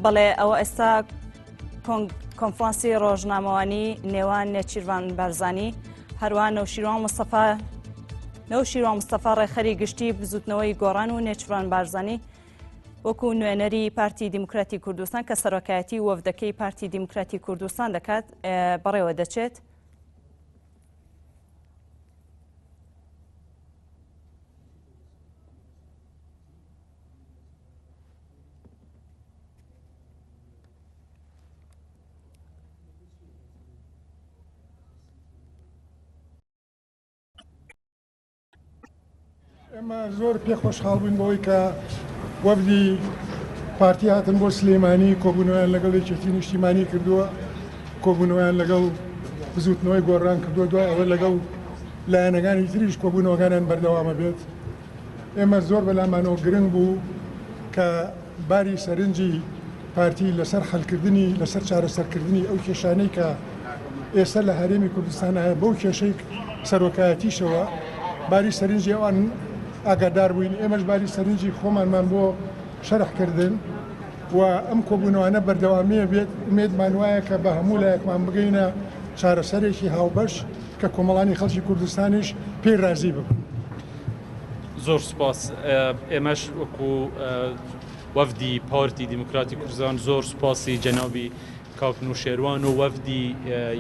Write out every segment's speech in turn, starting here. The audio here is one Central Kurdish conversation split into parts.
بەڵێ ئەوە ئێستا کۆنفرانسی ڕۆژنامەوانی نێوان نێچیروان بەرزانی هەروە نەوشیروان مستەفا نەوشیروان مستەفا ڕێخەری گشتی بزوتنەوەی گۆڕان و نێچوان بارزانی وەکو نوێنەری پارتی دیموکراتی کوردستان کە سەرۆکایەتی وەفدەکەی پارتی دیموکراتی کوردستان دەکات بەڕێوە دەچێت. ئێمە زۆر پێ خۆشحاڵ بووین بەوەی کە وەفدی پارتی هاتن بۆ سلێمانی کۆبوونەوەیان لەگەڵ یەکێتی نیشتیمانی کردووە کۆبوونەوەیان لەگەڵ بزوتنەوەی گۆڕان کردووە دوای ئەوە لەگەڵ لایەنەکانی تریش کۆبوونەوەکانیان بەردەوامە بێت ئێمە زۆر بەلامانەوە گرنگ بوو کە باری سەرنجی پارتی لەسەر حلکردنی لەسەر چارەسەرکردنی ئەو کێشانەی کە ئێستا لە هەرێمی کوردستان هەیە بەو کێشەی سەرۆکایەتیشەوە باری سەرنجی ئەوان ئاگادار بووین ئێمەش باری سەرنجی خۆمانمان بۆ شەرحکردن و ئەم کۆبوونەوانە بەردەوامیە بێت ئومێدمان وایە کە بە هەموو لایەکمان بگەینە چارەسەرێکی هاوبەش کە کۆمەڵانی خەڵکی کوردستانیش پێی رازی ببن. زۆر سپاس ئێمەش وەکو وەفدی پارتی دیموکراتی کوردستان زۆر سپاسی جەنابی کاک نوشێروان و وەفدی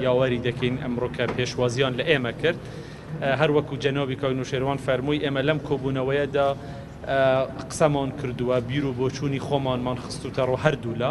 یاوەری دەکەین ئەمڕۆ کە پێشوازیان لە ئێمە کرد هەر وەکو جەنابی کاک نوشێروان فەرمووی ئێمە لەم کۆبوونەوەیەدا قسەمان کردووە بیر و بۆچوونی خۆمانمان خستوتە ڕۆ هەردوولا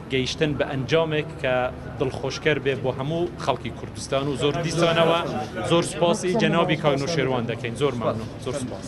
گەیشتن بە ئەنجامێک کە دڵخۆشکەر بێ بۆ هەموو خەڵکی کوردستان و زۆر دیسانەوە زۆر سوپاسی جەنابی کاک نەوشێروان دەکەین زۆر مەمنون زۆر سوپاس.